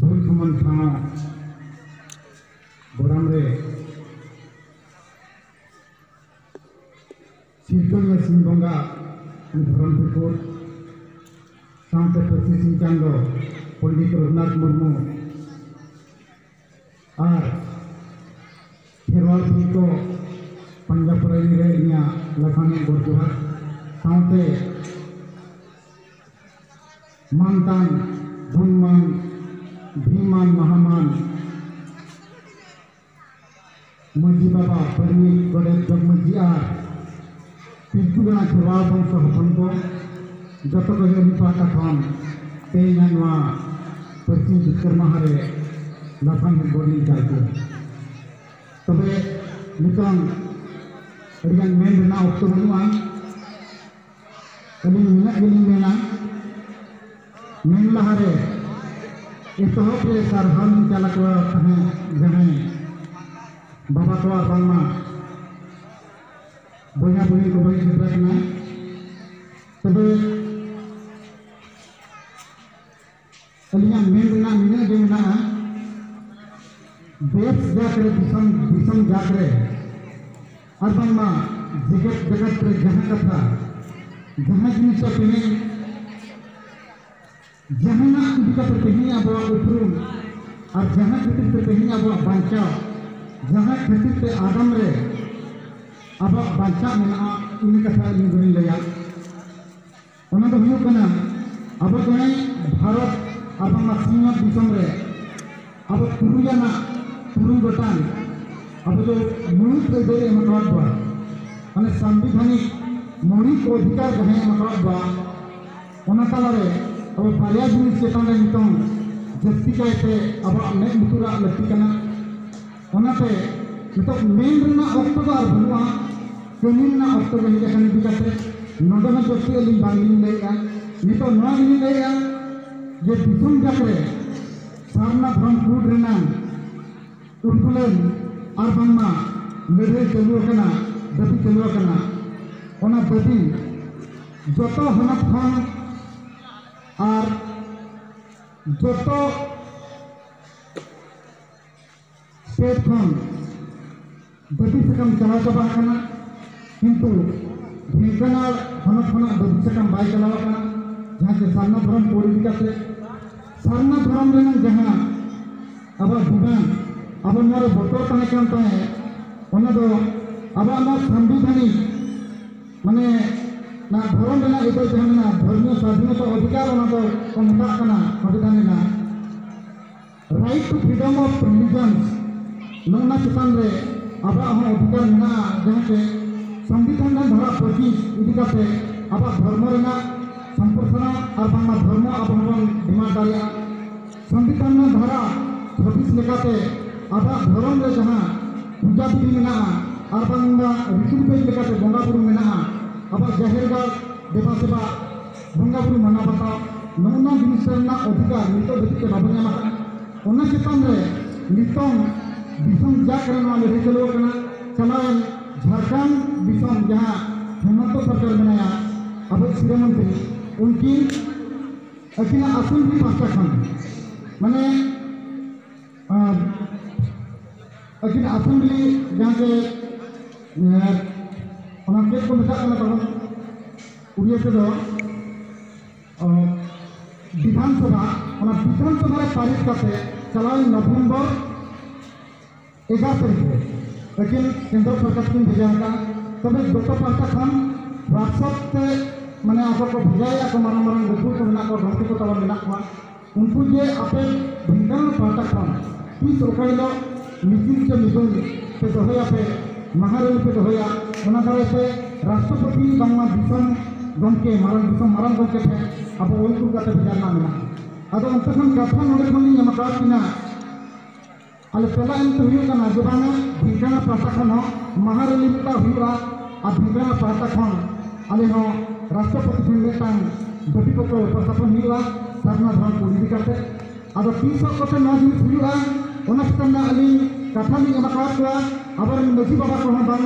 ᱵᱚᱨᱫᱷᱚᱢᱟᱱ ᱴᱷᱟᱶ ᱜᱚᱨᱟᱢ ᱨᱮ ᱥᱤᱨᱠᱟᱹᱱᱤᱭᱟᱹ ᱥᱤᱝ ᱵᱚᱸᱜᱟ ᱫᱷᱚᱨᱚᱢ ᱴᱷᱟᱹᱠᱩᱨ ᱥᱟᱶᱛᱮ ᱯᱟᱹᱨᱥᱤ ᱥᱤᱝ ᱪᱟᱸᱫᱚ ᱯᱚᱱᱰᱤᱛ ᱨᱚᱜᱷᱩᱱᱟᱛᱷ ᱢᱩᱨᱢᱩ ᱟᱨ ᱠᱷᱮᱨᱣᱟᱞ ᱯᱤ ᱠᱚ ᱯᱟᱸᱡᱟ ᱯᱚᱨᱟᱭ ᱨᱮ ᱤᱧᱟᱹᱜ ᱞᱟᱯᱷᱟᱝ ᱜᱚᱰ ᱡᱚᱦᱟᱨ ᱥᱟᱶᱛᱮ ᱢᱟᱱᱛᱟᱱ ᱜᱩᱱᱢᱟᱱ ᱵᱷᱤᱢᱟᱱ ᱢᱟᱦᱟᱢᱟᱱ ᱢᱟᱹᱡᱷᱤ ᱵᱟᱵᱟ ᱯᱟᱹᱨᱢᱤ ᱜᱚᱰᱮᱛ ᱡᱚᱜᱽ ᱢᱟᱹᱡᱷᱤ ᱟᱨ ᱯᱤᱞᱪᱩ ᱜᱟᱲᱟ ᱠᱷᱮᱨᱣᱟᱞ ᱵᱚᱝᱥᱚ ᱦᱚᱯᱚᱱ ᱠᱚ ᱡᱚᱛᱚ ᱠᱚᱜᱮ ᱟᱹᱞᱤᱧ ᱯᱟᱦᱴᱟ ᱠᱷᱚᱱ ᱛᱮᱦᱮᱧᱟᱜ ᱱᱚᱣᱟ ᱯᱟᱹᱨᱥᱤ ᱡᱤᱛᱠᱟᱹᱨ ᱢᱟᱦᱟ ᱨᱮ ᱞᱟᱯᱷᱟᱝ ᱦᱮᱡ ᱵᱚᱱ ᱪᱟᱞ ᱠᱚ ᱛᱚᱵᱮ ᱱᱤᱛᱚᱝ ᱟᱹᱰᱤᱜᱟᱱ ᱢᱮᱱ ᱨᱮᱱᱟᱜ ᱚᱠᱛᱚ ᱵᱟᱹᱱᱩᱜᱼᱟ ᱟᱹᱞᱤᱧ ᱱᱩᱱᱟᱹᱜ ᱜᱮᱞᱤᱧ ᱢᱮᱱᱟ ᱢᱮᱱ ᱞᱟᱦᱟᱨᱮ ᱮᱛᱚᱦᱚᱵ ᱨᱮ ᱥᱟᱨᱦᱟᱣ ᱞᱤᱧ ᱪᱟᱞ ᱟᱠᱚᱣᱟ ᱛᱟᱦᱮᱸᱫ ᱡᱟᱦᱟᱸᱭ ᱵᱟᱵᱟ ᱠᱚ ᱟᱨ ᱵᱟᱝᱢᱟ ᱵᱚᱭᱦᱟ ᱵᱩᱦᱤᱱ ᱠᱚ ᱵᱟᱹᱧ ᱥᱮᱴᱮᱨ ᱟᱠᱟᱱᱟ ᱛᱚᱵᱮ ᱟᱹᱞᱤᱧᱟᱜ ᱢᱮᱱ ᱨᱮᱱᱟᱜ ᱱᱤᱱᱟᱹᱜ ᱜᱮ ᱢᱮᱱᱟᱜᱼᱟ ᱫᱮᱥ ᱡᱟᱛ ᱨᱮ ᱫᱤᱥᱚᱢ ᱫᱤᱥᱚᱢ ᱡᱟᱛ ᱨᱮ ᱟᱨ ᱵᱟᱝᱢᱟ ᱡᱮᱜᱮᱛ ᱡᱟᱠᱟᱛ ᱨᱮ ᱡᱟᱦᱟᱸ ᱠᱟᱛᱷᱟ ᱡᱟᱦᱟᱸ ᱡᱤᱱᱤᱥ ᱫᱚ ᱛᱮᱦᱮᱧ ᱡᱟᱦᱟᱱᱟᱜ ᱤᱫᱤ ᱠᱟᱛᱮ ᱛᱮᱦᱮᱧ ᱟᱵᱚᱣᱟᱜ ᱩᱯᱨᱩᱢ ᱟᱨ ᱡᱟᱦᱟᱸ ᱠᱷᱟᱹᱛᱤᱨ ᱛᱮ ᱛᱮᱦᱮᱧ ᱟᱵᱚᱣᱟᱜ ᱵᱟᱧᱪᱟᱣ ᱡᱟᱦᱟᱸ ᱠᱷᱟᱹᱛᱤᱨ ᱛᱮ ᱟᱜᱟᱢ ᱨᱮ ᱟᱵᱚᱣᱟᱜ ᱵᱟᱧᱪᱟᱣ ᱢᱮᱱᱟᱜᱼᱟ ᱤᱱᱟᱹ ᱠᱟᱛᱷᱟ ᱟᱹᱞᱤᱧ ᱫᱚᱞᱤᱧ ᱞᱟᱹᱭᱟ ᱚᱱᱟ ᱫᱚ ᱦᱩᱭᱩᱜ ᱠᱟᱱᱟ ᱟᱵᱚ ᱪᱮᱬᱮ ᱵᱷᱟᱨᱚᱛ ᱟᱨ ᱵᱟᱝᱢᱟ ᱥᱤᱧᱚᱛ ᱫᱤᱥᱚᱢ ᱨᱮ ᱟᱵᱚ ᱛᱩᱨᱩᱭ ᱟᱱᱟᱜ ᱛᱩᱨᱩᱭ ᱜᱚᱴᱟᱝ ᱟᱵᱚ ᱫᱚ ᱢᱩᱬᱩᱛ ᱟᱹᱭᱫᱟᱹᱨ ᱮᱢ ᱟᱠᱟᱫ ᱵᱚᱱᱟ ᱢᱟᱱᱮ ᱥᱟᱝᱵᱤᱫᱷᱟᱱᱤᱠ ᱢᱚᱬᱤ ᱠᱚ ᱚᱫᱷᱤᱠᱟᱨ ᱡᱟᱦᱟᱸᱭ ᱮᱢ ᱟᱠᱟᱫ ᱵᱚᱱᱟ ᱚᱱᱟ ᱛᱟᱞᱟᱨᱮ ᱟᱵᱚ ᱵᱟᱨᱭᱟ ᱡᱤᱱᱤᱥ ᱪᱮᱛᱟᱱ ᱨᱮ ᱱᱤᱛᱚᱝ ᱡᱟᱹᱥᱛᱤ ᱠᱟᱭᱛᱮ ᱟᱵᱚᱣᱟᱜ ᱢᱮᱫ ᱞᱩᱛᱩᱨᱟᱜ ᱞᱟᱹᱠᱛᱤ ᱠᱟᱱᱟ ᱚᱱᱟᱛᱮ ᱱᱤᱛᱚᱜ ᱢᱮᱱ ᱨᱮᱱᱟᱜ ᱚᱠᱛᱚ ᱫᱚ ᱟᱨ ᱵᱟᱹᱱᱩᱜᱼᱟ ᱠᱟᱹᱢᱤ ᱨᱮᱱᱟᱜ ᱚᱠᱛᱚ ᱜᱮ ᱦᱮᱡ ᱟᱠᱟᱱ ᱤᱫᱤ ᱠᱟᱛᱮ ᱱᱚᱰᱮ ᱦᱚᱸ ᱡᱟᱹᱥᱛᱤ ᱟᱹᱞᱤᱧ ᱵᱟᱝᱞᱤᱧ ᱞᱟᱹᱭᱮᱫᱼᱟ ᱱᱤᱛᱚᱜ ᱱᱚᱣᱟ ᱜᱮᱞᱤᱧ ᱞᱟᱹᱭᱮᱫᱼᱟ ᱡᱮ ᱫᱤᱥᱚᱢ ᱡᱟᱠ ᱨᱮ ᱥᱟᱨᱱᱟ ᱫᱷᱚᱨᱚᱢ ᱠᱩᱰ ᱨᱮᱱᱟᱜ ᱩᱞᱜᱩᱞᱟᱹᱱ ᱟᱨ ᱵᱟᱝᱢᱟ ᱞᱟᱹᱲᱦᱟᱹᱭ ᱪᱟᱹᱞᱩ ᱟᱠᱟᱱᱟ ᱫᱟᱹᱵᱤ ᱪᱟᱹᱞᱩ ᱟᱠᱟᱱᱟ ᱚᱱᱟ ᱫᱟᱹᱵᱤ ᱡᱚᱛᱚ ᱦᱚᱱᱚᱛ ᱠᱷᱚᱱ ᱟᱨ ᱡᱚᱛᱚ ᱥᱴᱮᱴ ᱠᱷᱚᱱ ᱵᱟᱹᱛᱤ ᱥᱟᱠᱟᱢ ᱪᱟᱞᱟᱣ ᱪᱟᱵᱟ ᱟᱠᱟᱱᱟ ᱠᱤᱱᱛᱩ ᱰᱷᱮᱝᱠᱟᱱᱟᱲ ᱦᱚᱱᱚᱛ ᱠᱷᱚᱱᱟᱜ ᱵᱟᱹᱛᱤ ᱥᱟᱠᱟᱢ ᱵᱟᱭ ᱪᱟᱞᱟᱣ ᱟᱠᱟᱱᱟ ᱡᱟᱦᱟᱸ ᱪᱮ ᱥᱟᱨᱱᱟ ᱫᱷᱚᱨᱚᱢ ᱠᱳᱰ ᱤᱫᱤ ᱠᱟᱛᱮ ᱥᱟᱨᱱᱟ ᱫᱷᱚᱨᱚᱢ ᱨᱮᱱᱟᱜ ᱡᱟᱦᱟᱸ ᱟᱵᱚᱣᱟᱜ ᱰᱤᱢᱟᱱᱰ ᱟᱵᱚ ᱱᱚᱣᱟ ᱨᱮ ᱵᱚᱛᱚᱨ ᱛᱟᱦᱮᱸ ᱠᱟᱱ ᱛᱟᱦᱮᱸᱫ ᱚᱱᱟ ᱫᱚ ᱟᱵᱚᱣᱟᱜ ᱱᱚᱣᱟ ᱥᱟᱢᱵᱤᱫᱷᱟᱱᱤᱠ ᱢᱟᱱᱮ ᱱᱚᱣᱟ ᱫᱷᱚᱨᱚᱢ ᱨᱮᱱᱟᱜ ᱟᱹᱭᱫᱟᱹᱨ ᱡᱟᱦᱟᱸ ᱢᱮᱱᱟᱜᱼᱟ ᱫᱷᱚᱨᱢᱤᱭᱚ ᱥᱟᱫᱷᱤᱱᱚᱛᱟ ᱚᱫᱷᱤᱠᱟᱨ ᱚᱱᱟ ᱫᱚ ᱠᱚ ᱢᱮᱛᱟᱜ ᱠᱟᱱᱟ ᱥᱚᱝᱵᱤᱫᱷᱟᱱ ᱨᱮᱱᱟᱜ right to freedom of religion ᱱᱚᱜᱼᱚᱱᱟ ᱪᱮᱛᱟᱱ ᱨᱮ ᱟᱵᱚᱣᱟᱜ ᱦᱚᱸ ᱚᱫᱷᱤᱠᱟᱨ ᱢᱮᱱᱟᱜᱼᱟ ᱡᱟᱦᱟᱸ ᱪᱮ ᱥᱚᱝᱵᱤᱫᱷᱟᱱ ᱨᱮ ᱫᱷᱟᱨᱟ ᱯᱚᱸᱪᱤᱥ ᱤᱫᱤ ᱠᱟᱛᱮ ᱟᱵᱚᱣᱟᱜ ᱫᱷᱚᱨᱢᱚ ᱨᱮᱱᱟᱜ ᱥᱚᱢᱯᱨᱚᱥᱟᱨᱚᱱ ᱟᱨ ᱵᱟᱝᱢᱟ ᱫᱷᱚᱨᱢᱚ ᱟᱵᱚ ᱦᱚᱸᱵᱚᱱ ᱰᱤᱢᱟᱱᱰ ᱫᱟᱲᱮᱭᱟᱜᱼᱟ ᱥᱚᱝᱵᱤᱫᱷᱟᱱ ᱨᱮ ᱫᱷᱟᱨᱟ ᱪᱷᱟᱵᱤᱥ ᱞᱮᱠᱟᱛᱮ ᱟᱵᱚᱣᱟᱜ ᱫᱷᱚᱨᱚᱢ ᱨᱮ ᱡᱟᱦᱟᱸ ᱯᱩᱡᱟ ᱵᱤᱫᱷᱤ ᱢᱮᱱᱟᱜᱼᱟ ᱟᱨ ᱵᱟᱝᱢᱟ ᱨᱤᱛᱤ ᱨᱤᱣᱟᱡᱽ ᱞᱮᱠᱟᱛᱮ ᱵᱚᱸᱜᱟ ᱵᱩᱨᱩ ᱢᱮᱱᱟᱜᱼᱟ ᱟᱵᱚᱣᱟᱜ ᱡᱟᱦᱮᱨ ᱜᱟᱲ ᱫᱮᱵᱟ ᱥᱮᱵᱟ ᱵᱚᱸᱜᱟ ᱵᱩᱨᱩ ᱢᱟᱱᱟᱣ ᱵᱟᱛᱟᱣ ᱱᱚᱜᱼᱚ ᱱᱚᱣᱟ ᱡᱤᱱᱤᱥ ᱨᱮᱱᱟᱜ ᱚᱫᱷᱤᱠᱟᱨ ᱱᱤᱛᱚᱜ ᱫᱷᱟᱹᱵᱤᱡ ᱛᱮ ᱵᱟᱵᱚ ᱧᱟᱢ ᱟᱠᱟᱫᱼᱟ ᱚᱱᱟ ᱪᱮᱛᱟᱱ ᱨᱮ ᱱᱤᱛᱚᱝ ᱫᱤᱥᱚᱢ ᱡᱟᱠ ᱨᱮ ᱱᱚᱣᱟ ᱞᱟᱹᱲᱦᱟᱹᱭ ᱪᱟᱹᱞᱩ ᱟᱠᱟᱱᱟ ᱪᱟᱞᱟᱣᱮᱱ ᱡᱷᱟᱲᱠᱷᱚᱸᱰ ᱫᱤᱥᱚᱢ ᱡᱟᱦᱟᱸ ᱦᱮᱢᱚᱱᱛᱚ ᱥᱚᱨᱠᱟᱨ ᱢᱮᱱᱟᱭᱟ ᱟᱵᱚ ᱥᱤᱨᱟᱹ ᱢᱚᱱᱛᱨᱤ ᱩᱱᱠᱤᱱ ᱟᱹᱠᱤᱱᱟᱜ ᱟᱹᱥᱩᱞ ᱜᱮ ᱯᱟᱥᱴᱟ ᱠᱷᱚᱱ ᱢᱟᱱᱮ ᱟᱨ ᱟᱹᱠᱤᱱ ᱟᱹᱥᱩᱞ ᱜᱮ ᱡᱟᱦᱟᱸ ᱡᱮ ᱚᱱᱟ ᱪᱮᱫ ᱠᱚ ᱢᱮᱛᱟᱜ ᱠᱟᱱᱟ ᱛᱟᱵᱚᱱ ᱩᱲᱤᱭᱟᱹ ᱛᱮᱫᱚ ᱵᱤᱫᱷᱟᱱ ᱥᱚᱵᱷᱟ ᱚᱱᱟ ᱵᱤᱫᱷᱟᱱ ᱥᱚᱵᱷᱟ ᱨᱮ ᱯᱟᱨᱤᱛ ᱠᱟᱛᱮ ᱪᱟᱞᱟᱣᱮᱱ ᱱᱚᱵᱷᱮᱢᱵᱚᱨ ᱮᱜᱟᱨ ᱛᱟᱹᱨᱤᱠᱷ ᱨᱮ ᱟᱹᱠᱤᱱ ᱠᱮᱱᱫᱨᱚ ᱥᱚᱨᱠᱟᱨ ᱠᱤᱱ ᱵᱷᱮᱡᱟ ᱟᱠᱟᱫᱼᱟ ᱛᱚᱵᱮ ᱡᱚᱛᱚ ᱯᱟᱦᱴᱟ ᱠᱷᱚᱱ ᱦᱳᱣᱟᱴᱥᱮᱯ ᱛᱮ ᱢᱟᱱᱮ ᱟᱠᱚ ᱠᱚ ᱵᱷᱮᱡᱟᱭᱮᱫᱼᱟ ᱠᱚ ᱢᱟᱨᱟᱝ ᱢᱟᱨᱟᱝ ᱜᱟᱹᱠᱷᱩᱲ ᱠᱚ ᱢᱮᱱᱟᱜ ᱠᱚᱣᱟ ᱜᱟᱛᱮ ᱠᱚ ᱛᱟᱵᱚᱱ ᱢᱮᱱᱟᱜ ᱠᱚᱣᱟ ᱩᱱᱠᱩ ᱡᱮ ᱟᱯᱮ ᱵᱷᱮᱜᱟᱨ ᱯᱟᱦᱴᱟ ᱠᱷᱚᱱ ᱛᱤᱥ ᱚᱠᱟ ᱦᱤᱞᱳᱜ ᱢᱤᱫᱩᱱ ᱥᱮ ᱢᱤᱫᱩᱱ ᱯᱮ ᱫᱚᱦᱚᱭᱟ ᱯᱮ ᱢᱟᱦᱟ ᱨᱮᱞᱤ ᱯᱮ ᱫᱚᱦᱚᱭᱟ ᱚᱱᱟ ᱫᱟᱨᱟᱭ ᱛᱮ ᱨᱟᱥᱴᱨᱚᱯᱚᱛᱤ ᱵᱟᱝᱢᱟ ᱫᱤᱥᱚᱢ ᱜᱚᱢᱠᱮ ᱢᱟᱨᱟᱝ ᱫᱤᱥᱚᱢ ᱢᱟᱨᱟᱝ ᱜᱚᱢᱠᱮ ᱴᱷᱮᱱ ᱟᱵᱚ ᱚᱞ ᱠᱩᱞ ᱠᱟᱛᱮ ᱵᱷᱮᱡᱟ ᱨᱮᱱᱟᱜ ᱢᱮᱱᱟᱜᱼᱟ ᱟᱫᱚ ᱚᱱᱛᱮ ᱠᱷᱚᱱ ᱠᱟᱛᱷᱟ ᱱᱚᱰᱮ ᱠᱷᱚᱱ ᱞᱤᱧ ᱮᱢ ᱟᱠᱟᱫ ᱠᱤᱱᱟ ᱟᱞᱮ ᱛᱮᱞᱟ ᱮᱢ ᱛᱮ ᱦᱩᱭᱩᱜ ᱠᱟᱱᱟ ᱡᱮ ᱵᱟᱝᱟ ᱵᱷᱤᱝᱜᱟᱱᱟ ᱯᱟᱦᱴᱟ ᱠᱷᱚᱱ ᱦᱚᱸ ᱢᱟᱦᱟ ᱨᱮᱞᱤ ᱢᱤᱫᱴᱟᱝ ᱦᱩᱭᱩᱜᱼᱟ ᱟᱨ ᱵᱷᱤᱝᱜᱟᱱᱟ ᱯᱟᱦᱴᱟ ᱠᱷᱚᱱ ᱟᱞᱮ ᱦᱚᱸ ᱨᱟᱥᱴᱨᱚᱯᱚᱛᱤ ᱴᱷᱮᱱ ᱢᱤᱫᱴᱟᱝ ᱫᱟᱹᱵᱤ ᱯᱚᱛᱨᱚ ᱩᱯᱟᱥᱟᱯᱚᱱ ᱦᱩᱭᱩᱜᱼᱟ ᱥᱟᱨᱱᱟ ᱫᱷᱚᱨᱚᱢ ᱠᱚ ᱤᱫᱤ ᱠᱟᱛᱮ ᱟᱫᱚ ᱛᱤᱥ ᱦᱚᱸ ᱠᱚᱛᱮ ᱱᱚᱣᱟ ᱡᱤᱱᱤᱥ ᱦᱩᱭᱩᱜᱼᱟ ᱚᱱᱟ ᱪᱮᱛᱟᱱ ᱨᱮ ᱟᱹᱞᱤᱧ ᱠᱟᱛᱷᱟ ᱞᱤᱧ ᱮᱢ ᱟᱠᱟᱫ ᱠᱚᱣᱟ ᱟᱵᱚᱨᱮᱱ ᱢᱟᱹᱡᱷᱤ ᱵᱟᱵᱟ ᱠᱚᱦᱚᱸ ᱵᱟᱝ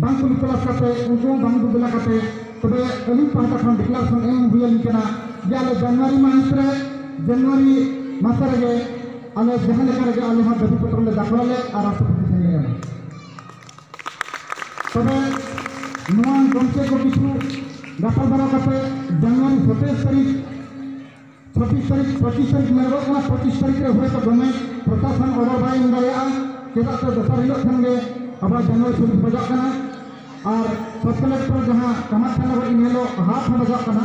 ᱵᱟᱝ ᱠᱚ ᱠᱞᱟᱥ ᱠᱟᱛᱮ ᱩᱱᱠᱩ ᱦᱚᱸ ᱵᱟᱝ ᱵᱚᱫᱞᱟ ᱠᱟᱛᱮ ᱛᱚᱵᱮ ᱟᱹᱞᱤᱧ ᱯᱟᱦᱴᱟ ᱠᱷᱚᱱ ᱰᱤᱠᱞᱟᱨᱮᱥᱚᱱ ᱮᱢ ᱦᱩᱭ ᱟᱹᱞᱤᱧ ᱠᱟᱱᱟ ᱡᱮ ᱟᱞᱮ ᱡᱟᱱᱩᱣᱟᱨᱤ ᱢᱟᱥ ᱨᱮ ᱡᱟᱱᱩᱣᱟᱨᱤ ᱢᱟᱥ ᱨᱮᱜᱮ ᱟᱞᱮ ᱡᱟᱦᱟᱸ ᱞᱮᱠᱟ ᱨᱮᱜᱮ ᱟᱞᱮ ᱦᱚᱸ ᱫᱟᱹᱵᱤ ᱯᱚᱛᱨᱚ ᱞᱮ ᱫᱟᱠᱷᱚᱞᱟᱞᱮ ᱟᱨ ᱨᱟᱥᱴᱨᱚᱯᱚᱛᱤ ᱴᱷᱮᱱ ᱞᱮ ᱮᱢᱟ ᱛᱚᱵᱮ ᱱᱚᱣᱟ ᱜᱚᱢᱠᱮ ᱠᱚ ᱠᱤᱪᱷᱩ ᱜᱟᱯᱟᱞᱢᱟᱨᱟᱣ ᱠᱟᱛᱮ ᱡᱟᱱᱩᱣᱟᱨᱤ ᱥᱚᱛᱮᱨ ᱛᱟᱹᱨᱤᱠᱷ ᱯᱚᱸᱪᱤᱥ ᱛᱟᱹᱨᱤᱠᱷ ᱯᱚᱸᱪᱤᱥ ᱛᱟᱹᱨᱤᱠᱷ ᱢᱮᱱᱚᱜᱚᱜ ᱠᱟᱱᱟ ᱯᱚᱸᱪᱤᱥ ᱛᱟᱹᱨᱤᱠᱷ ᱨᱮ ᱦᱚᱭᱛᱳ ᱫᱚᱢᱮ ᱯᱨᱚᱥᱟᱥᱚᱱ ᱚᱰᱟᱨ ᱵᱟᱭ ᱮᱢ ᱫᱟᱲᱮᱭᱟᱜᱼᱟ ᱪᱮᱫᱟᱜ ᱥᱮ ᱫᱚᱥᱟᱨ ᱦᱤᱞᱳᱜ ᱠᱷᱟᱱ ᱜᱮ ᱟᱵᱟᱨ ᱡᱟᱱᱩᱣᱟᱨᱤ ᱥᱩᱨ ᱵᱟᱡᱟᱜ ᱠᱟᱱᱟ ᱟᱨ ᱥᱟᱵ ᱠᱟᱞᱮᱠᱴᱚᱨ ᱡᱟᱦᱟᱸ ᱠᱟᱢᱟᱠᱷᱟᱱ ᱱᱚᱜᱚᱨ ᱤᱱ ᱦᱤᱞᱳᱜ ᱦᱟᱴ ᱦᱚᱸ ᱵᱟᱡᱟᱜ ᱠᱟᱱᱟ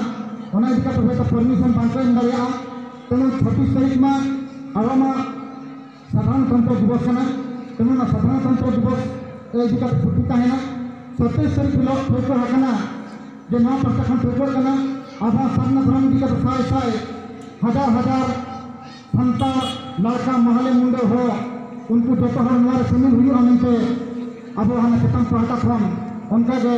ᱚᱱᱟ ᱤᱫᱤ ᱠᱟᱛᱮ ᱦᱚᱭᱛᱳ ᱯᱟᱨᱢᱤᱥᱚᱱ ᱵᱟᱝᱠᱚ ᱮᱢ ᱫᱟᱲᱮᱭᱟᱜᱼᱟ ᱛᱮᱢᱚᱱ ᱪᱷᱟᱵᱵᱤᱥ ᱛᱟᱹᱨᱤᱠᱷ ᱢᱟ ᱟᱨᱚ ᱢᱟ ᱥᱟᱫᱷᱟᱨᱚᱱᱛᱚᱱᱛᱨᱚ ᱫᱤᱵᱚᱥ ᱠᱟᱱᱟ ᱛᱮᱢᱚᱱ ᱚᱱᱟ ᱥᱟᱫᱷᱟᱨᱚᱱᱛᱚᱱᱛᱨᱚ ᱫᱤᱵᱚᱥ ᱨᱮ ᱤᱫᱤ ᱠᱟᱛᱮ ᱯᱩᱛᱷᱤ ᱛᱟᱦᱮᱱᱟ ᱥᱚᱛᱮᱡ ᱥᱟᱹᱨᱤ ᱦᱤᱞᱳᱜ ᱴᱷᱟᱹᱣᱠᱟᱹ ᱟᱠᱟᱱᱟ ᱡᱮ ᱱᱚᱣᱟ ᱯᱟᱦᱴᱟ ᱠᱷᱚᱱ ᱴᱷᱟᱹᱣᱠᱟᱹ ᱠᱟᱱᱟ ᱟᱵᱚ ᱥᱟᱨᱱᱟ ᱫᱷᱚᱨᱚᱢ ᱤᱫᱤ ᱠᱟᱛᱮ ᱥᱟᱭ ᱥᱟᱭ ᱦᱟᱡᱟᱨ ᱦᱟᱡᱟᱨ ᱥᱟᱱᱛᱟᱲ ᱞᱟᱲᱠᱟ ᱢᱟᱦᱟᱞᱮ ᱢᱩᱱᱰᱟᱹ ᱦᱚᱲ ᱩᱱᱠᱩ ᱡᱚᱛᱚ ᱦᱚᱲ ᱱᱚᱣᱟ ᱨᱮ ᱥᱟᱹᱢᱤᱞ ᱦᱩᱭᱩᱜᱼᱟ ᱢᱮᱱᱛᱮ ᱟᱵᱚ ᱦᱟᱱᱟ ᱪᱮᱛᱟᱱ ᱯᱟᱦᱴᱟ ᱠᱷᱚᱱ ᱚᱱᱠᱟᱜᱮ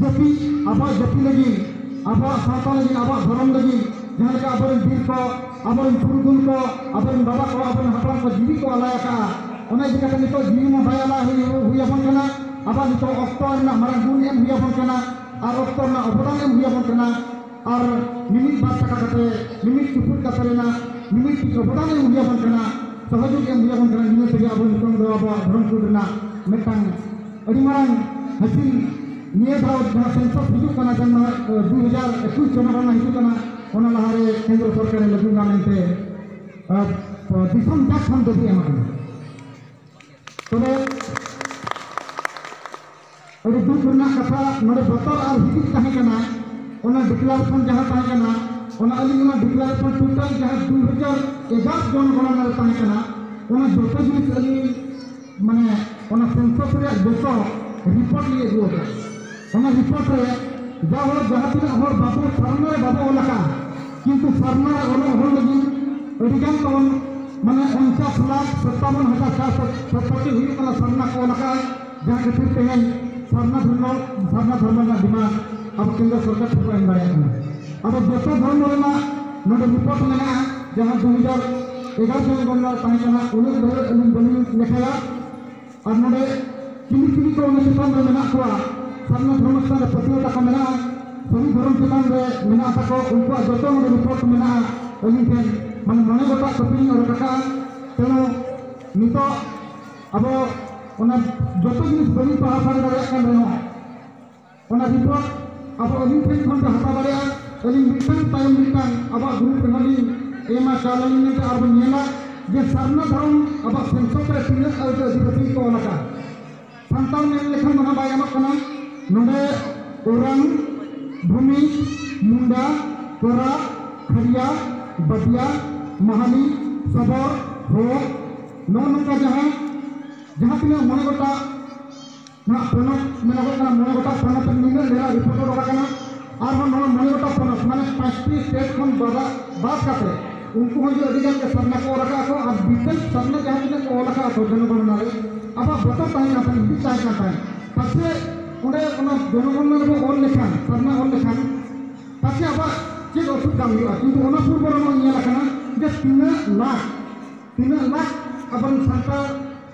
ᱡᱟᱹᱛᱤ ᱟᱵᱚᱣᱟᱜ ᱡᱟᱹᱛᱤ ᱞᱟᱹᱜᱤᱫ ᱟᱵᱚᱣᱟᱜ ᱥᱟᱶᱛᱟ ᱞᱟᱹᱜᱤᱫ ᱟᱵᱚᱣᱟᱜ ᱫᱷᱚᱨᱚᱢ ᱞᱟᱹᱜᱤᱫ ᱡᱟᱦᱟᱸ ᱞᱮᱠᱟ ᱟᱵᱚᱨᱮᱱ ᱵᱤᱨ ᱠᱚ ᱟᱵᱚᱨᱮᱱ ᱯᱩᱨᱩᱫᱷᱩᱞ ᱠᱚ ᱟᱵᱚᱨᱮᱱ ᱵᱟᱵᱟ ᱠᱚ ᱟᱵᱚᱨᱮᱱ ᱦᱟᱯᱲᱟᱢ ᱠᱚ ᱡᱤᱣᱤ ᱠᱚ ᱟᱞᱟᱭ ᱟᱠᱟᱫᱼᱟ ᱚᱱᱟ ᱤᱫᱤ ᱠᱟᱛᱮ ᱱᱤᱛᱚᱜ ᱡᱤᱣᱤ ᱢᱟ ᱵᱟᱭ ᱟᱞᱟᱭ ᱦᱩᱭ ᱦᱩᱭ ᱟᱵᱚᱱ ᱠᱟᱱᱟ ᱟᱵᱚᱣᱟᱜ ᱱᱤᱛᱚᱜ ᱚᱠᱛᱚ ᱨᱮᱱᱟᱜ ᱢᱟᱨᱟᱝ ᱜᱩᱱ ᱮᱢ ᱦᱩᱭ ᱟᱵᱚᱱ ᱠᱟᱱᱟ ᱟᱨ ᱚᱠᱛᱚ ᱨᱮᱱᱟᱜ ᱚᱵᱚᱫᱟᱱ ᱮᱢ ᱦᱩᱭ ᱟᱵᱚᱱ ᱠᱟᱱᱟ ᱟᱨ ᱢᱤᱢᱤᱫ ᱵᱟᱨ ᱴᱟᱠᱟ ᱠᱟᱛᱮ ᱢᱤᱢᱤᱫ ᱪᱩᱯᱩᱫ ᱠᱟᱛᱮ ᱨᱮᱱᱟᱜ ᱢᱤᱢᱤᱫ ᱴᱤᱡ ᱚᱵᱚᱫᱟᱱ ᱮᱢ ᱦᱩᱭ ᱟᱵᱚᱱ ᱠᱟᱱᱟ ᱥᱚᱦᱚᱡᱳᱜᱽ ᱮᱢ ᱦᱩᱭ ᱟᱵᱚᱱ ᱠᱟᱱᱟ ᱤᱱᱟᱹ ᱛᱮᱜᱮ ᱟᱵᱚ ᱱᱤᱛᱚᱝ ᱫᱚ ᱟᱵᱚᱣᱟᱜ ᱫᱷᱚᱨᱚᱢ ᱠᱳᱰ ᱨᱮᱱᱟᱜ ᱢᱤᱫᱴᱟᱝ ᱟᱹᱰᱤ ᱢᱟᱨᱟᱝ ᱦᱟᱹᱛᱤ ᱱᱤᱭᱟᱹ ᱫᱷᱟᱣ ᱡᱟᱦᱟᱸ ᱥᱮᱱᱥᱚᱥ ᱦᱤᱡᱩᱜ ᱠᱟᱱᱟ ᱡᱟᱦᱟᱸ ᱫᱩ ᱦᱟᱡᱟᱨ ᱮᱠᱩᱥ ᱪᱟᱸᱫᱳ ᱨᱮᱱᱟᱜ ᱦᱤᱡᱩᱜ ᱠᱟᱱᱟ ᱚᱱᱟ ᱞᱟᱦᱟᱨᱮ ᱠᱮᱱᱫᱨᱚ ᱥᱚᱨᱠᱟᱨᱮ ᱞᱟᱹᱜᱩ ᱮᱱᱟ ᱢᱮᱱᱛᱮ ᱫᱤᱥᱚᱢ ᱡᱟᱠ ᱠᱷᱚᱱ ᱫᱟᱹᱵᱤ ᱮᱢ ᱟᱠᱟᱱᱟ ᱛᱚᱵᱮ ᱟᱹᱰᱤ ᱫᱩᱠ ᱨᱮᱱᱟᱜ ᱠᱟᱛᱷᱟ ᱱᱚᱰᱮ ᱵᱚᱛᱚᱨ ᱟᱨ ᱦᱤᱫᱤᱡ ᱛᱟᱦᱮᱸ ᱠᱟᱱᱟ ᱚᱱᱟ ᱰᱤᱠᱞᱟᱨᱮᱥᱚᱱ ᱡᱟᱦᱟᱸ ᱛᱟᱦᱮᱸ ᱠᱟᱱᱟ ᱚᱱᱟ ᱟᱹᱞᱤᱧ ᱚᱱᱟ ᱰᱤᱠᱞᱟᱨᱮᱥᱚᱱ ᱴᱳᱴᱟᱞ ᱡᱟᱦᱟᱸ ᱫᱩ ᱦᱟᱡᱟᱨ ᱮᱜᱟᱨᱚ ᱡᱚᱱ ᱜᱚᱲᱚ ᱨᱮ ᱛᱟᱦᱮᱸ ᱠᱟᱱᱟ ᱚᱱᱟ ᱡᱚᱛᱚ ᱡᱤᱱᱤᱥ ᱟᱹᱞᱤᱧ ᱢᱟᱱᱮ ᱚᱱᱟ ᱥᱮᱱᱥᱟᱥ ᱨᱮᱭᱟᱜ ᱡᱚᱛᱚ ᱨᱤᱯᱳᱨᱴ ᱞᱤᱧ ᱟᱹᱜᱩ ᱟᱠᱟᱫᱟ ᱚᱱᱟ ᱨᱤᱯᱳᱨᱴ ᱨᱮ ᱡᱟ ᱦᱚᱲ ᱡᱟᱦᱟᱸ ᱛᱤᱱᱟᱹᱜ ᱦᱚᱲ ᱵᱟᱵᱚ ᱥᱟᱨᱱᱟ ᱨᱮ ᱵᱟᱵᱚ ᱚᱞ ᱟᱠᱟᱫᱼᱟ ᱠᱤᱱᱛᱩ ᱥᱟᱨᱱᱟ ᱨᱮ ᱚᱞᱚᱜ ᱦᱚᱲ ᱞᱟᱹᱜᱤᱫ ᱟᱹᱰᱤᱜᱟᱱ ᱛᱟᱵᱚᱱ ᱢᱟᱱᱮ ᱚᱱᱪᱟᱥ ᱞᱟᱠᱷ ᱥᱚᱛᱟᱵᱚᱱ ᱦᱟᱡᱟᱨ ᱪᱟᱨᱥᱚ ᱥᱚᱛᱯᱟᱴᱤ ᱦᱩᱭᱩᱜ ᱠᱟᱱᱟ ᱥᱟᱨᱱᱟ ᱠᱚ ᱚᱞ ᱟᱠᱟᱫᱼᱟ ᱡᱟᱦᱟᱸ ᱠᱷᱟᱹᱛᱤᱨ ᱛᱮᱦᱮᱧ ᱥᱟᱨᱱᱟ ᱫᱷᱚᱨᱢᱚ ᱥᱟᱨᱱᱟ ᱫᱷᱚᱨᱢᱚ ᱨᱮᱱᱟᱜ ᱰᱤᱢᱟᱱᱰ ᱟᱵᱚ ᱠᱮᱱᱫᱨᱚ ᱥᱚᱨᱠᱟᱨ ᱴᱷᱮᱱ ᱵᱚᱱ ᱮᱢ ᱫᱟᱲᱮᱭᱟᱜ ᱠᱟᱱᱟ ᱟᱫᱚ ᱡᱚᱛᱚ ᱫᱷᱚᱨᱢᱚ ᱨᱮᱱᱟᱜ ᱱᱚᱰᱮ ᱨᱤᱯᱳᱨᱴ ᱢᱮᱱᱟᱜᱼᱟ ᱡᱟᱦᱟᱸ ᱫᱩ ᱦᱟᱡᱟᱨ ᱯᱮᱜᱟ ᱥᱚᱢᱚᱭ ᱵᱚᱱᱫᱚ ᱛᱟᱦᱮᱸ ᱠᱟᱱᱟ ᱩᱱᱟᱹᱜ ᱵᱟᱹᱭ ᱟᱹᱞᱤᱧ ᱵᱟᱹᱞᱤᱧ ᱞᱮᱠᱷᱟᱭᱟ ᱟᱨ ᱱᱚᱰᱮ ᱪᱤᱞᱤ ᱪᱤᱞᱤ ᱠᱚ ᱚᱱᱟ ᱪᱮᱛᱟᱱ ᱨᱮ ᱢᱮᱱᱟᱜ ᱠᱚᱣᱟ ᱥᱟᱨᱱᱟ ᱫᱷᱚᱨᱚᱢ ᱪᱮᱛᱟᱱ ᱨᱮ ᱯᱟᱹᱛᱭᱟᱹᱣ ᱛᱟᱠᱚ ᱢᱮᱱᱟᱜᱼᱟ ᱥᱟᱹᱨᱤ ᱫᱷᱚᱨᱚᱢ ᱪᱮᱛᱟᱱ ᱨᱮ ᱢᱮᱱᱟᱜ ᱛᱟᱠᱚ ᱩᱱᱠᱩᱣᱟᱜ ᱡᱚᱛᱚ ᱱᱚᱰᱮ ᱨᱤᱯᱳᱨᱴ ᱢᱮᱱᱟᱜᱼᱟ ᱟᱹᱞᱤᱧ ᱴᱷᱮᱱ ᱢᱟᱱᱮ ᱢᱚᱬᱮ ᱜᱚᱴᱟᱜ ᱠᱟᱹᱯᱤᱞᱤᱧ ᱚᱰᱚᱠ ᱟᱠᱟᱫᱼᱟ ᱛᱮᱱᱚ ᱱᱤᱛᱚᱜ ᱟᱵᱚ ᱚᱱᱟ ᱡᱚᱛᱚ ᱡᱤᱱᱤᱥ ᱵᱟᱹᱞᱤᱧ ᱯᱟᱲᱦᱟᱣ ᱥᱟᱹᱨᱤ ᱫᱟᱲᱮᱭᱟᱜ ᱠᱟᱱ ᱨᱮᱦᱚᱸ ᱚᱱᱟ ᱨᱤᱯᱳᱨᱴ ᱟᱵᱚ ᱟᱹᱞᱤᱧ ᱴᱷᱮᱱ ᱠᱷᱚᱱ ᱯᱮ ᱦᱟᱛᱟᱣ ᱫᱟᱲᱮᱭᱟᱜᱼᱟ ᱟᱹᱞᱤᱧ ᱢᱤᱫᱴᱟᱝ ᱛᱟᱭᱚᱢ ᱢᱤᱫᱴᱟᱝ ᱟᱵᱚᱣᱟᱜ ᱜᱨᱩᱯ ᱨᱮᱦᱚᱸ ᱞᱤᱧ ᱮᱢᱟ ᱪᱟᱞ ᱟᱹᱞᱤᱧ ᱢᱮᱱᱛᱮ ᱟᱨ ᱵᱚᱱ ᱧᱮᱞᱟ ᱡᱮ ᱥᱟᱨᱱᱟ ᱫᱷᱚᱨᱚᱢ ᱟᱵᱚᱣᱟᱜ ᱥᱮᱱᱥᱚᱠ ᱨᱮ ᱛᱤᱱᱟᱹᱜ ᱟᱹᱰᱤ ᱟᱹᱫᱤᱵᱟᱹᱥᱤ ᱠᱚ ᱚᱞ ᱟᱠᱟᱫ ᱥᱟᱱᱛᱟᱲ ᱢᱮᱱ ᱞᱮᱠᱷᱟᱱ ᱚᱱᱟ ᱵᱟᱭ ᱜᱟᱱᱚᱜ ᱠᱟᱱᱟ ᱱᱚᱰᱮ ᱳᱨᱟᱝ ᱵᱷᱩᱢᱤ ᱢᱩᱱᱰᱟ ᱠᱚᱨᱟ ᱠᱷᱟᱨᱤᱭᱟ ᱵᱟᱫᱤᱭᱟ ᱢᱟᱦᱟᱞᱤ ᱥᱚᱵᱚᱨ ᱦᱚᱲ ᱱᱚᱜᱼᱚ ᱱᱚᱝᱠᱟ ᱡᱟᱦᱟᱸ ᱡᱟᱦᱟᱸ ᱛᱤᱱᱟᱹᱜ ᱢᱚᱬᱮ ᱜᱚᱴᱟᱜ ᱱᱚᱣᱟ ᱯᱚᱱᱚᱛ ᱢᱮᱱᱚᱜᱚᱜ ᱠᱟᱱᱟ ᱢᱚᱬᱮ ᱜᱚᱴᱟᱝ ᱯᱚᱱᱚᱛ ᱨᱮ ᱱᱤᱱᱟᱹᱜ ᱰᱷᱮᱨ ᱨᱤᱯᱳᱨᱴ ᱚᱰᱚᱠ ᱟᱠᱟᱱᱟ ᱟᱨᱦᱚᱸ ᱱᱚᱣᱟ ᱢᱚᱬᱮ ᱜᱚᱴᱟᱝ ᱯᱚᱱᱚᱛ ᱢᱟᱱᱮ ᱯᱟᱸᱪᱴᱤ ᱥᱴᱮᱴ ᱠᱷᱚᱱ ᱵᱟᱫᱟ ᱵᱟᱫ ᱠᱟᱛᱮ ᱩᱱᱠᱩ ᱦᱚᱸ ᱡᱩᱫᱤ ᱟᱹᱰᱤ ᱜᱟᱱ ᱜᱮ ᱥᱟᱨᱱᱟ ᱠᱚ ᱚᱞ ᱟᱠᱟᱫ ᱠᱚ ᱟᱨ ᱵᱤᱥᱮᱥ ᱥᱟᱨᱱᱟ ᱡᱟᱦᱟᱸ ᱛᱤᱱᱟᱹᱜ ᱠᱚ ᱚᱞ ᱟᱠᱟᱫ ᱠᱚ ᱡᱚᱱᱚᱜᱚᱱᱱᱟ ᱨᱮ ᱟᱵᱚᱣᱟᱜ ᱵᱚᱛᱚᱨ ᱛᱟᱦᱮᱸ ᱠᱟᱱ ᱛᱟᱦᱮᱸᱫ ᱵᱤᱥ ᱛᱟᱦᱮᱸ ᱠᱟᱱ ᱛᱟᱦᱮᱸᱫ ᱯᱟᱪᱮ ᱚᱸᱰᱮ ᱚᱱᱟ ᱡᱚᱱᱚᱜᱚᱱᱱᱟ ᱨᱮᱵᱚ ᱚᱞ ᱞᱮᱠᱷᱟᱱ ᱥᱟᱨᱱᱟ ᱚᱞ ᱞᱮᱠᱷᱟᱱ ᱯᱟᱪᱮ ᱟᱵᱚᱣᱟᱜ ᱪᱮᱫ ᱚᱥᱩᱵᱤᱫᱷᱟ ᱦᱩᱭᱩᱜᱼᱟ ᱠᱤᱱᱛᱩ ᱚᱱᱟ ᱯᱩᱨᱵᱚ ᱨᱮ ᱱᱚᱣᱟ ᱧᱮᱞ ᱟᱠᱟᱱᱟ ᱡᱮ ᱛᱤᱱᱟᱹᱜ ᱞᱟᱠᱷ ᱛᱤᱱᱟᱹᱜ ᱞᱟᱠᱷ ᱟᱵᱚᱨᱮᱱ ᱥᱟᱱᱛᱟᱲ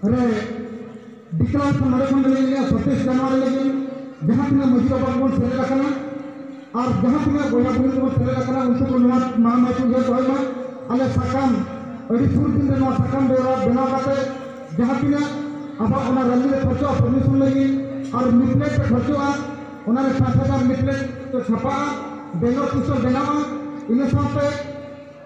ᱨᱮ ᱵᱤᱠᱨᱚᱢ ᱱᱚᱰᱮ ᱠᱷᱚᱱ ᱞᱤᱧ ᱞᱟᱹᱭᱟ ᱥᱚᱛᱤᱥ ᱡᱟᱱᱣᱟᱨ ᱞᱟᱹᱜᱤᱫ ᱡᱟᱦᱟᱸ ᱛᱤᱱᱟᱹᱜ ᱢᱟᱹᱡᱷᱤ ᱵᱟᱵᱟ ᱵᱚᱱ ᱥᱮᱞᱮᱫ ᱟᱠᱟᱱᱟ ᱟᱨ ᱡᱟᱦᱟᱸ ᱛᱤᱱᱟᱹᱜ ᱵᱚᱭᱦᱟ ᱵᱩᱦᱤᱱ ᱠᱚᱵᱚᱱ ᱥᱮᱞᱮᱫ ᱟᱠᱟᱱᱟ ᱩᱱᱠᱩ ᱠᱚ ᱱᱚᱣᱟ ᱢᱟᱲᱟᱝ ᱢᱟᱹᱡᱷᱤ ᱩᱭᱦᱟᱹᱨ ᱫᱚᱦᱚᱭ ᱢᱟ ᱟᱞᱮ ᱥᱟᱠᱟᱢ ᱟᱹᱰᱤ ᱥᱩᱨ ᱫᱤᱱ ᱨᱮ ᱱᱚᱣᱟ ᱥᱟᱠᱟᱢ ᱵᱮᱣᱨᱟ ᱵᱮᱱᱟᱣ ᱠᱟᱛᱮ ᱡᱟᱦᱟᱸ ᱛᱤᱱᱟᱹᱜ ᱟᱵᱚᱣᱟᱜ ᱚᱱᱟ ᱨᱟᱹᱞᱤ ᱨᱮ ᱠᱷᱚᱨᱪᱚᱜᱼᱟ ᱯᱟᱨᱢᱤᱥᱚᱱ ᱞᱟᱹᱜᱤᱫ ᱟᱨ ᱞᱤᱯᱞᱮᱴ ᱨᱮ ᱠᱷᱚᱨᱪᱚᱜᱼᱟ ᱚᱱᱟ ᱨᱮ ᱯᱟᱸᱪ ᱦᱟᱡᱟᱨ ᱞᱤᱯᱞᱮᱴ ᱪᱷᱟᱯᱟᱜᱼᱟ ᱵᱮᱱᱟᱨ ᱯᱩᱥᱴᱟᱨ ᱵᱮᱱᱟᱣᱟ ᱤᱱᱟᱹ ᱥᱟᱶᱛᱮ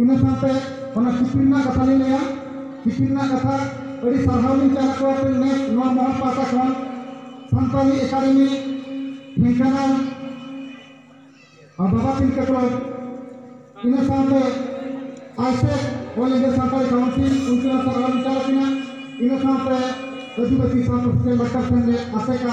ᱤᱱᱟᱹ ᱥᱟᱶᱛᱮ ᱚᱱᱟ ᱪᱤᱴᱷᱤ ᱨᱮᱱᱟᱜ ᱠᱟᱛᱷᱟ ᱞᱤᱧ ᱞᱟᱹᱭᱟ ᱪᱤᱴᱷᱤ ᱨᱮᱱᱟᱜ ᱠᱟᱛᱷᱟ ᱟᱹᱰᱤ ᱥᱟᱨᱦᱟᱣ ᱞᱤᱧ ᱪᱟᱞ ᱟᱠᱚᱣᱟ ᱯᱮ ᱱᱮᱥ ᱱᱚᱣᱟ ᱢᱚᱦᱚᱞ ᱯᱟᱦᱴᱟ ᱠᱷᱚᱱ ᱥᱟᱱᱛᱟᱲᱤ ᱮᱠᱟᱰᱮᱢᱤ ᱰᱷᱮᱝᱠᱟᱱᱟᱞ ᱟᱨ ᱵᱟᱵᱟ ᱛᱤᱞᱠᱟᱹ ᱠᱞᱚᱵᱽ ᱤᱱᱟᱹ ᱥᱟᱶᱛᱮ ASECA all India Santali council ᱩᱱᱠᱩ ᱦᱚᱸ ᱥᱟᱨᱦᱟᱣ ᱞᱤᱧ ᱪᱟᱞ ᱟᱠᱤᱱᱟ ᱤᱱᱟᱹ ᱥᱟᱶᱛᱮ ᱟᱹᱫᱤᱵᱟᱹᱥᱤ ᱥᱟᱶᱛᱟ ᱥᱮᱪᱮᱫ ᱞᱟᱠᱪᱟᱨ ᱥᱮᱢᱞᱮᱫ ᱟᱥᱮᱠᱟ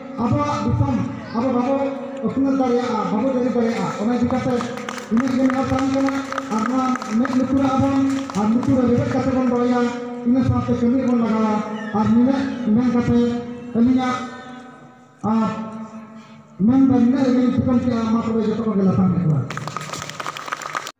ᱟᱵᱚᱣᱟᱜ ᱫᱤᱥᱚᱢ ᱟᱵᱚ ᱵᱟᱵᱚ ᱟᱹᱯᱱᱟᱹᱨ ᱫᱟᱲᱮᱭᱟᱜᱼᱟ ᱵᱟᱵᱚ ᱡᱟᱹᱨᱤ ᱫᱟᱲᱮᱭᱟᱜᱼᱟ ᱚᱱᱟ ᱤᱫᱤ ᱠᱟᱛᱮ ᱤᱱᱟᱹᱜ ᱜᱮ ᱱᱮᱦᱚᱨ ᱛᱟᱦᱮᱱ ᱠᱟᱱᱟ ᱟᱨ ᱱᱚᱣᱟ ᱢᱮᱫ ᱞᱩᱛᱩᱨᱟᱜᱼᱟ ᱵᱚᱱ ᱟᱨ ᱞᱩᱛᱩᱨ ᱨᱮ ᱨᱮᱵᱮᱫ ᱠᱟᱛᱮ ᱵᱚᱱ ᱫᱚᱦᱚᱭᱟ ᱤᱱᱟᱹ ᱥᱟᱶᱛᱮ ᱠᱟᱹᱢᱤ ᱨᱮᱵᱚᱱ ᱞᱟᱜᱟᱣᱟ ᱟᱨ ᱱᱤᱱᱟᱹᱜ ᱢᱮᱱ ᱠᱟᱛᱮ ᱟᱹᱞᱤᱧᱟᱜ ᱟᱨ ᱢᱮᱱ ᱫᱚ ᱱᱤᱱᱟᱹᱜ ᱨᱮᱜᱮᱞᱤᱧ ᱛᱷᱩᱠᱟᱹᱢ ᱠᱮᱜᱼᱟ ᱢᱟ ᱛᱚᱵᱮ ᱡᱚᱛᱚ ᱠᱚᱜᱮ ᱞᱟᱯᱷᱟᱝ ᱥᱮᱫ ᱡᱚᱦᱟᱨ